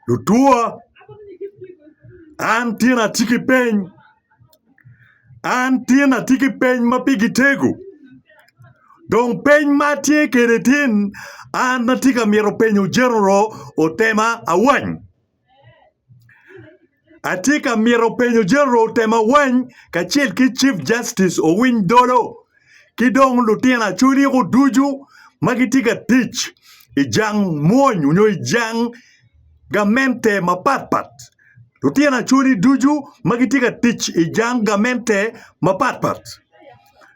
Lutwa, an tyen atye ki peny, an tyen atye ki peny ma pigi tego dong peny ma atye kwede tye ni an atye ka mito penyo General otema awany. Atye ka mito penyo General otem awany kacel ki Chief Justice owiny dolo ki dong lutino Acholi-gu ducu ma gitye ka tic i jang mwony nyo i jang gamente mapatpat, lutino Acholi ducu ma gitye ka tic i jang gamente mapatpat.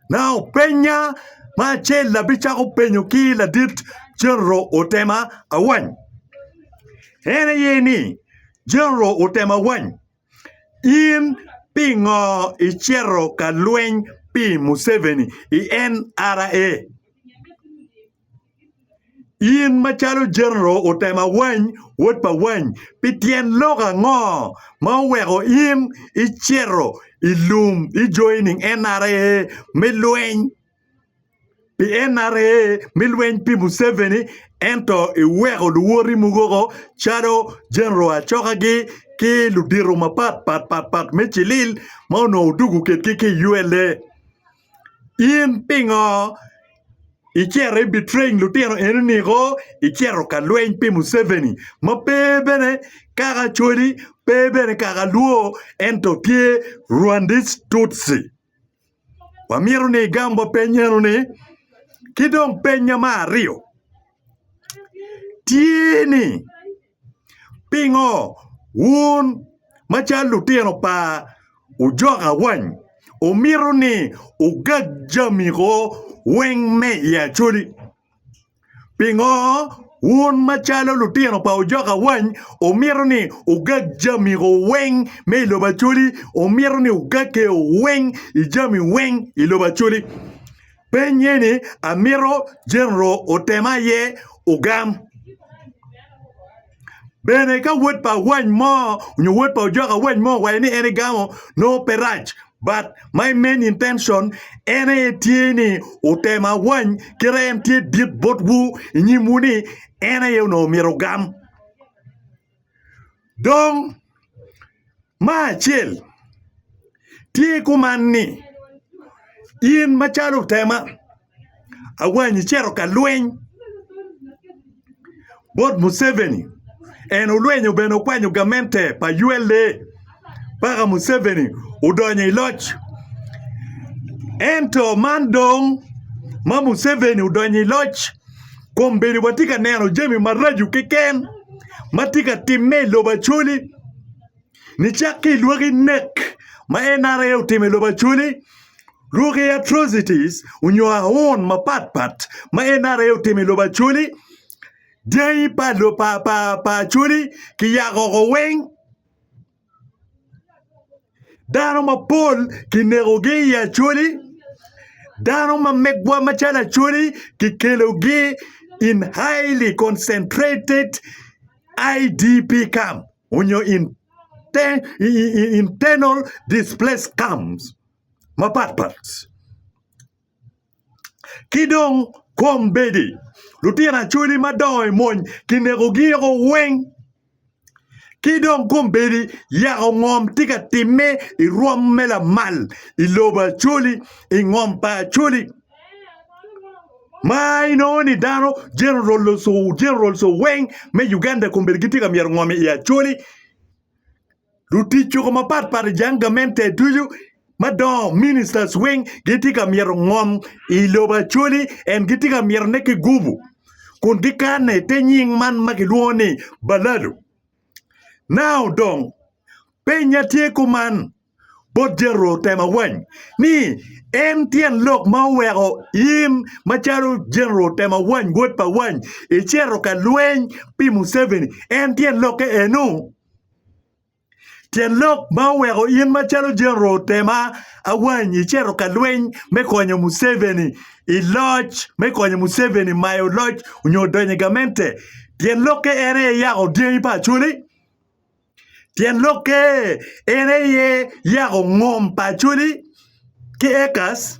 Naka openya ma acel abicako penyo ki ladit General otem awany en aye ni, Jeneral otema wany, In pingo icito ka lweny pi Museveni i NRA? In macalo Jeneral otema wany, wod pa wany, pi tyen lok ango ma oweko in icito i lum i joining NRA me lweny? pi NRA me lweny pi Museveni ento iweko luwoti mukoko calo Genero Achokagi ki ludito mapat pat me cilil ma onongo odugo kwedgi ki i ULA in pingo icito i betraying lutino eni niko icito ka lweny pi Museveni ma pe bene kaka Acholi pe bene kaka Luo ento tye Rwandese Tutsi. wamito ni igam wa peny eno ni, ki dong penya me aryo tye ni pingo wun macalo lutino pa ojok awany wumito ni wugag jami weng me i Acholi? Pingo wun macalo lutino pa ojok awany wumito ni wugag jamigo weng me i lobo Acholi? Wumito ni wugag keo weng i jami weng i lobo Acholi? Peny eni amito Jeneral otem aye ogam. Bene ka wod pa awany mo nyo wod pa ojok awany mo owaco ni en egamo nongo pe rac but my main intention en aye tye ni otemo awany kit ma en tye dit botwu i nyimwu ni en aye onongo myero ogam dong Ma acel tye kuman ni in macalo otema awanyi icito ka lweny bot Museveni en olwenyo bene okwanyo gamente pa ULA paka Museveni odonyo i loc ento man dong ma Museveni odonyo i loc kombeddi watye ka neno jami maraco keken ma tye ka timme i lobo Acholi nicak ki i lwaki nek ma NRA otimo i lobo Acholi, lwaki atrocities nyo aun mapat pat ma NRA otimo i lobo Acholi, dyangi pa Acholi kiyako woko weng. Dano mapol kinekogi i acholi, dano ma megwa macalo acholi kikelogi in highly concentrated IDP camp nyo internal displaced camps mapat pat. ki dong kombeddi. Lutino Acholi ma dongo i mony kinekogi woko weng. Ki dong kombeddi yako ngom tye ka timme i rwom me lamal i lobo Acholi, i ngom pa Acholi ma inongo ni dano jenerals weng me Uganda kombeddi gitye ka myero ngom i Acholi. Lutic juko mapat pat i jang gamente ducu madongo, ministers, weng gitye ka myero ngom i lobo acoli en gitye ka myero ne ki gubu kun gikane i te nying man ma kilwongo ni baladu. Now dong penya tye kuman bot Jethro Temawany ni en tyen lok ma oweko in macalo General Temawany wod pa wany icito ka lweny pi Museveni en tyen lokke enu? Tyen lok ma oweko in macalo General otema awany icito ka lweny me konyo Museveni i loc me konyo Museveni mayo loc nyo donyo i gamente tyen lokke en aye yako dyangi pa Acholi tyen lokke en aye yako ngom pa Acholi ki Ekas.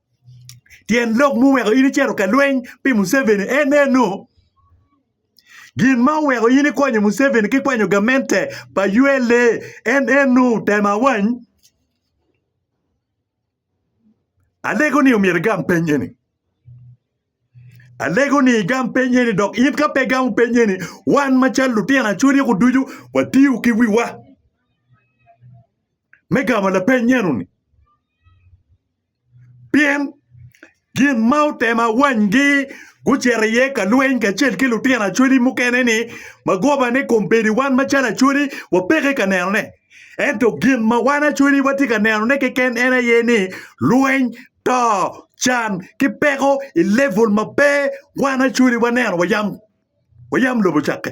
Tyen lok ma oweko in icito ka lweny pi Museveni en eno, gin ma oweko in ikonyo Museveni ki kwanyo gamente pa ULA en eno, tem awany. Alego-ni omyero igam peny eni, alego-ni igam peny eni dok in ka pe igamo peny eni wan macalo lutino acwodiko ducu watiyo ki wiwa me gamo lapeny enoni. Pien gin ma otemo awanygi gucito iye ka lweny kacel ki lutino acholi mukene-ni, ma goba ni kombeddi wan macalo acholi wapeke ka nenone. Ento gin ma wan acholi watye ka nenone keken en aye ni lweny, to, can ki peko i level ma pe wan acholi waneno wayam lobo cakke.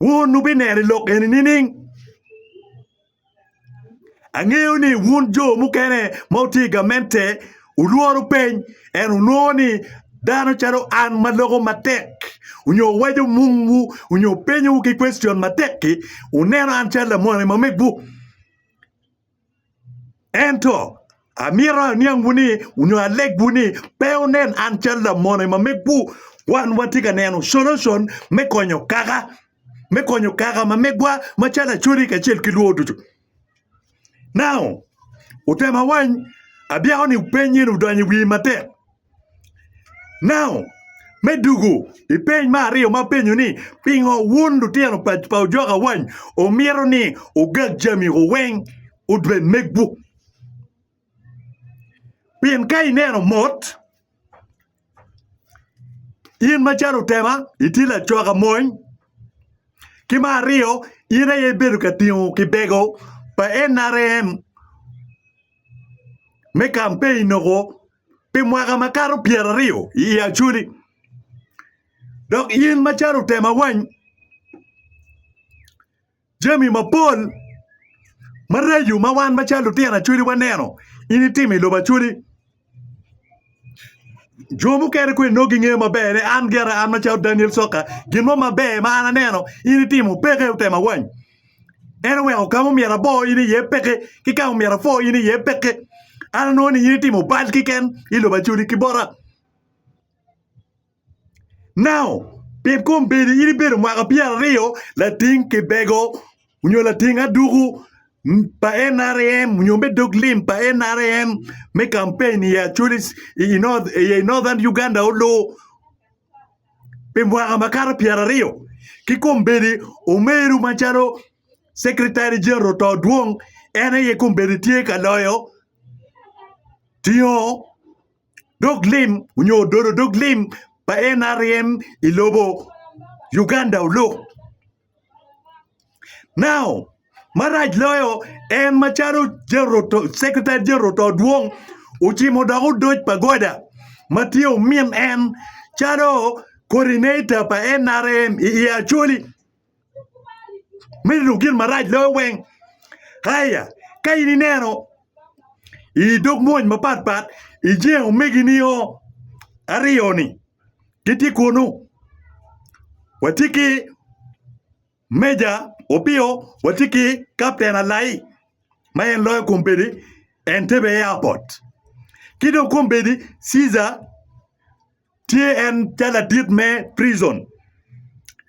Wun wubineno i lok eni nining? Angeyo ni wun jo mukene ma wutye i gamente wulworo peny, ento wunongo ni dano calo an ma loko matek nyo waco mungwu nyo penyowu ki kwecion matek-ki, wuneno an calo lamoni ma megwu. Ento, amito aniangwu ni, nyo alegwu ni, pe wunen an calo lamone ma megwu. Wan watye ka neno solution me konyo kaka, me konyo kaka ma megwa macalo Acodi kacel ki lwor ducu. Now, wutema wany, abyeko ni peny eni odonyo i wiyi matek. Now, me dwogo i peny me aryo ma apenyo ni pingo wun lutino pa pa ojok awany omito ni ogag jami gu weng obed megwu? Pien ka ineno mot, in macalo otema itye lacok amony, ki me aryo in aye ibedo ka tingo kibego pa NRM me kampein noko pi mwaka makato pyeraryo i Acholi, dok in macalo otema wany jami mapol maraco ma wan macalo lutino Acholi waneno in itimo i lobo Acholi. Jo mukene kong inongo gingeyo maber ni an gire an macalo Daniel Coka gin mo maber ma an aneno in itimo peke otema wany. En oweko kama omyero abo in iye peke ki kama omyero apwo in iye peke. An anongo ni in itimo bal kiken i lobo Acholi ki bota. Now, pi kombeddi in ibedo mwaka pyeraryo lating kibego nyo lating aduku pa NRM nyo me dog lim pa NRM me kampeinni i Acholi i Northern Uganda olu. pi mwaka makato pyeraryo ki kombeddi omeru macalo secretary general to dwong en aye kombeddi tye ka loyo tingo dog lim nyo dolo dog lim pa nrm ilobo Uganda oluk. Marac loyo, en macalo Secretary General Oto-Odwong ocimo dok odoc pa Goda ma tye omin en calo Coordinator pa NRM i aye Acholi me lub gin marac loyo weng. Aya ka in ineno i dog mony mapatpat ijenge omegini aryo-ni. gitye kunu. Watye ki Meja Opio, watye ki Kapten Alai ma en loyo kombeddi Entebbe Airport. Ki dong kombeddi Caesar tye en calo ladit me prizon.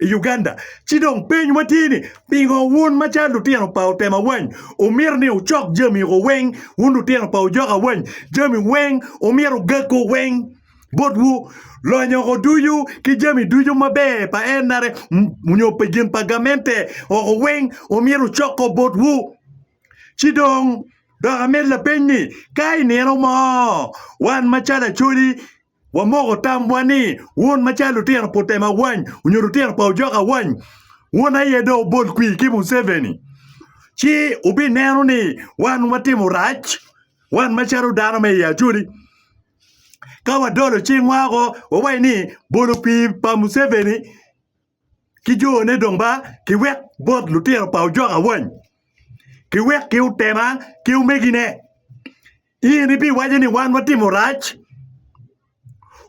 i Uganda. Ci dong peny watye ni pingo wun ma calo lutino pa otema wany wumito ni wucok jami ko weng wun lutino pa ojoka wany jami weng wumito gago weng botwu lonyo ko ducu ki jami ducu maber pa NRM nyo pi gin pa gamente oko weng wumito wucok ko botwu ci dong dok amed lapeny ni ka i nino mo wan macalo Acholi Wamoko tamwa ni wun ma cal lutino putema awany onyo lutino pa ojok awany, wun aye dong wubol kwir ki Museveni ci wubineno ni wan watimo rac, wan macalo dano me i Acholi. Ka wadolo cingwa woko wawaci ni bolo kwir pa Museveni. ki jone dong ba kiwek bot lutino pa ojok awany kiwek ki otema ki omegine. In ibiwaco ni wan watimo rac?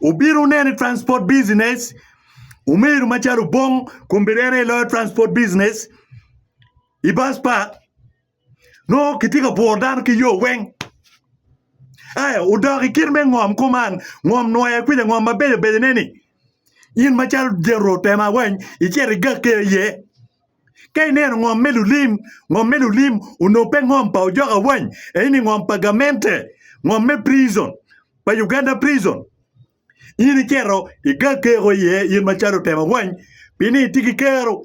Obino neno i transport business omeru macalo Obong kombedere loyo transport business i bus park. nongo kitye ka bworo dano ki yo weng. Aya odok i kit me ngom kuman, ngom nwoya kuca ngom ma beco becone-ni, in macalo Jethro tema weny icit igakke iye. Ka ineno ngom me lulim, ngom me lulim onongo pe ngom pa ojoka weny, eni ngom pa gamente, ngom me prison, pa Uganda prison. In icito igakke woko iye in macalo tema weny, pien ni itye ki kero.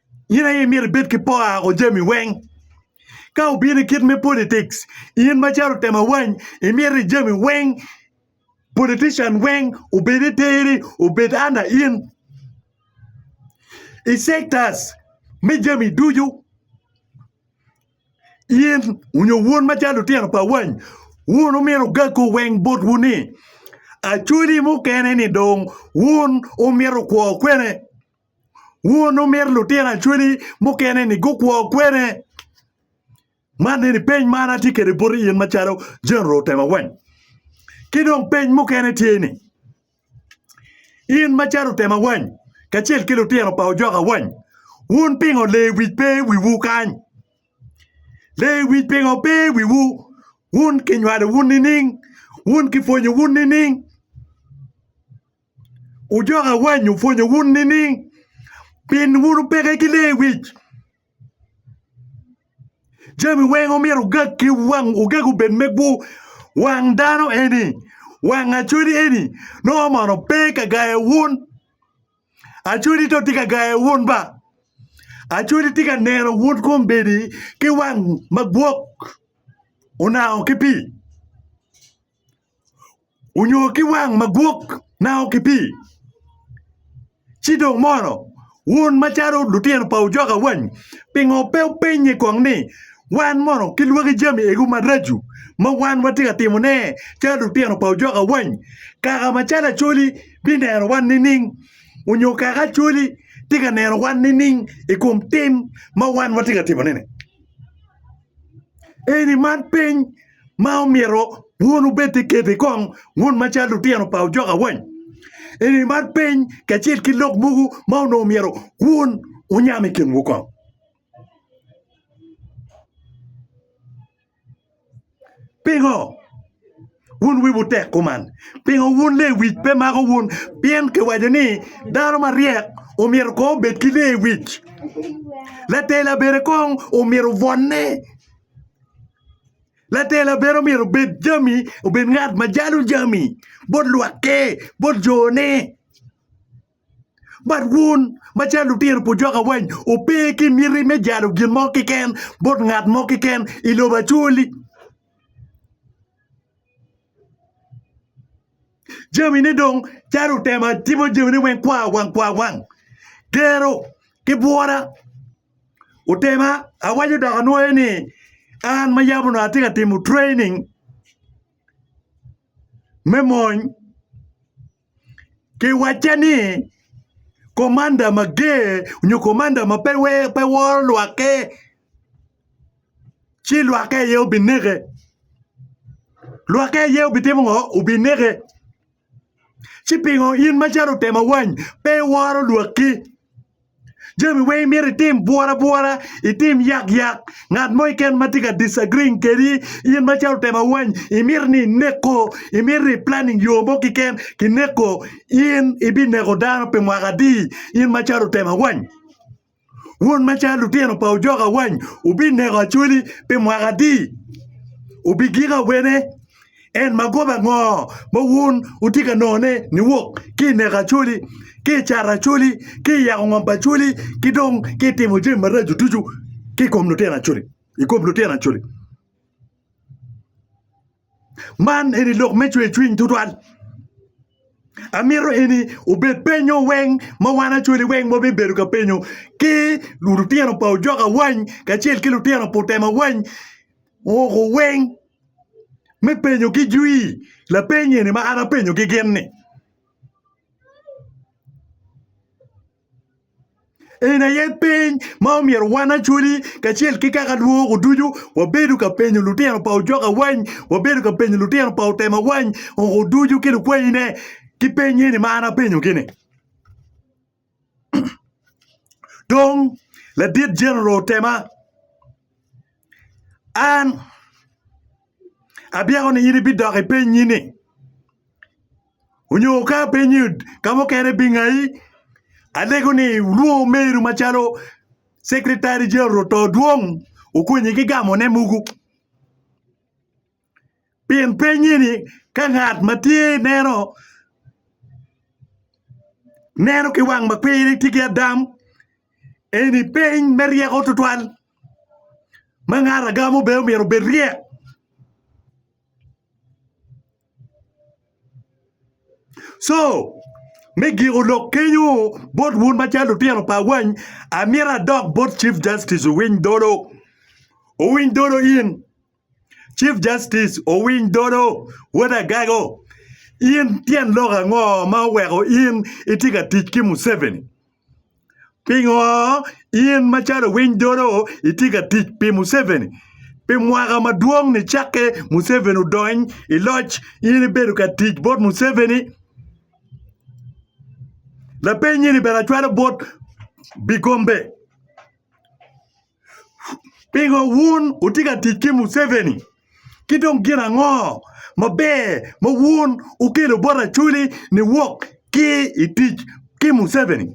in aye imyero ibed ki poka o jami weng ka obino i kit me politics in macalo tema wany imyero i jami weng politician weng obed i teri obed under in i sectors me jami ducu in nyo wun macalo lutino pa wany wun omyero ogaku weng botwu ni acholi mukene ni dong wun omyero kwo kwene. Wunu mit lutino acwali mukene-ni gukwo kwene? Man eni peny ma an atye kwede boti in macalo Jeneral Otema Weng. Ki dong peny mukene tye ni, in macalo Otema Weng kacel ki lutino pa Ojoka Weng, wun pingo Lewic pe i wiwu kany? Lewic pingo pe i wiwu? Wun kinywalowu nining? Wun kipwonyowu nining? Wujok awany wupwonyo wun nining? Pien wun wupeke ki lee wic. Jami weng omyero wugag ki wang, wugag obed me gwu. Wang dano eni, wang acodi eni nongo mono pe ka gayo wun. Acodi to tye ka gayo wun ba. Acodi tye ka neno wun kombeddi ki wang magwok, onango ki pii. onyo ki wang magwok nao ki pii ci dong mono wun macalo lutino pa ojok awany pingo pe wupenye kong ni wan mono kilwaki jami egu maraco ma wan watye ka timone calo lutino pa ojok awany kaka macalo acholi bineno wan nining onyo kaka acholi tye ka neno wan nining i kom tim ma wan watye ka timone-ni eni man piny ma omyero wun wubed ki kebbi kong wun macalo lutino pa ojok awany, eni man piny kacel ki lok mogo ma onongo myero wun wunyam i kinwu kong. Pingo wun wiwu tek kuman? Pingo wun lewic pe mako wun? Pien kiwaco ni dano maryek omyero kong obed ki lewic, latela bene kong omyero obwonne. Latela bene myero obed jami obed ngat ma jalo jami bot lwakke bot jone but wun macalo lutino pu jok awaci wupe ki miti me jalo gin mo keken bot ngat mo keken i lobo acholi. Jamine dong calo otemo atimo jamine weng kwa wang kwa wang gero ki bwora otema awaco dok anwoyo ni an ma yam onongo atye ka timo training me mony. Kiwacce ni, Komanda mager nyo komanda ma pe woro lwakke ci lwakke aye obineke. Lwakke aye obitimo ngo? Obineke. Ci pingo in macalo otemo awany pe iworo lwakki? Jami weng imito itim bwora bwora, itim yak yak, ngat mo keken ma tye ka disagreeing kedi in macalo otemo awany imito ni ineko, imito ni planning yo mo keken kineko in ibineko dano pi mwaka adi in macalo otemo awany? Wun macalo lutino pa ojok awany wubineko Acholi pi mwaka adi? Wubigiko awene? En magoba ango ma wun wutye ka nongone niwok ki i neko Acholi, ki i cato Acholi, ki i yako ngom pa Acholi, ki dong ki i timo jami maraco ducu ki i kom lutino Acholi, i kom lutino Acholi? Man eni lok me cwercwiny tutwal. Amito eni obed penyo weng ma wan Acholi weng ma wabibedo ka penyo ki lutino pa Ojok awany kacel ki lutino pa Otem awany, woko weng. me penyogi jwi lapeny eni ma an apenyogi gin ni eni aye peny ma omyero wan Acholi kacel ki kaka lwongo ducu wabedo ka penyo lutino pa ojok awany wabedo ka penyo lutino pa otem awany ongo ducu ki lukwayine ki peny eni ma an apenyogi ni Dong ladit Jethro otema, An abyeko ni in ibidok i penyi-ni, onyo ka apenyi ka mukene ibingayi? Alego ni lwongo omeru macalo Cekretari Jethro to dwong okonyi ki gamone mogo. pien pennye ni ka ngat ma tye ineno neno ki wang ma kwiri tye ki adam eni peny me ryeko tutwal ma ngat agamo bene myero obed ryek co me giko lok kenyo bot wun macalo lutino pa wany amyero adok bot cif justice owiny dolo owiny dolo in. Chief Justice Owiny Dolo, Wod Agago, in tyen lok ango ma oweko in itye ka tic ki Museveni? Pingo in macalo Owiny Dolo itye ka tic pi Museveni? Pi mwaka madwong ni cakke Museveni odony i loc in ibedo ka tic bot Museveni? Lapeny eni bene acwalo bot Bigombe. Pingo wun wutye ka tic ki Museveni? Ki dong gin ango maber ma wun wukelo bot Acholi niwok ki i tic ki Museveni?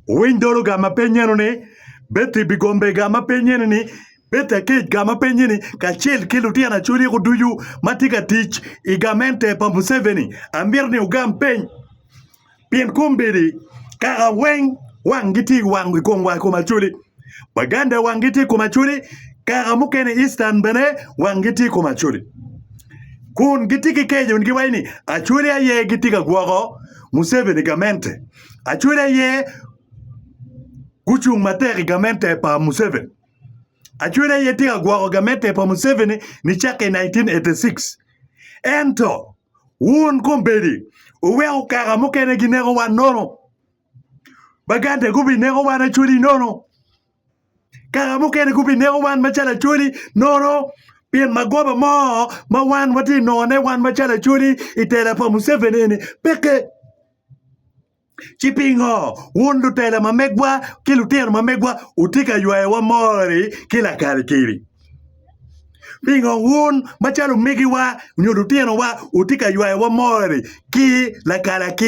Wuwiny dologa ma pennyeno ni, Betty Bigombega ma pennyeni ni, Betty Aketga ma pennyeni kacel ki lutino Acholi ko ducu ma tye ka tic i gamente pa Museveni? Amito ni wugam peny. pien kombeddi kaka weng wangi tye i kom wa i kom acholi, Baganda wangi tye i kom acholi, kaka mukene Eastern bene wangi tye i kom acholi. Kun gitye ki keco wun giwaco ni acholi aye gitye ka gwoko Museveni gamente, acholi aye gucung matek i gamente pa Museveni. Acwele aye tye ka gwoko gamette pa Museveni nicake i 1986. Ento, wun kombeddi wuweko kaka mukene gineko wan nono. Baganda gubineko wan Acweli nono. Kaka mukene gubineko wan macalo Acweli nono pien magoba mo ma wan watye ka nongone wan macalo Acweli i tela pa Museveni eni peke. Ci pingo wun lutela ma megwa ki lutino ma megwa wutye ka ywayowa mori ki lakalikili? Pingo wun macalo omegiwa nyo lutinowa wutye ka ywayowa mori ki lakalakil?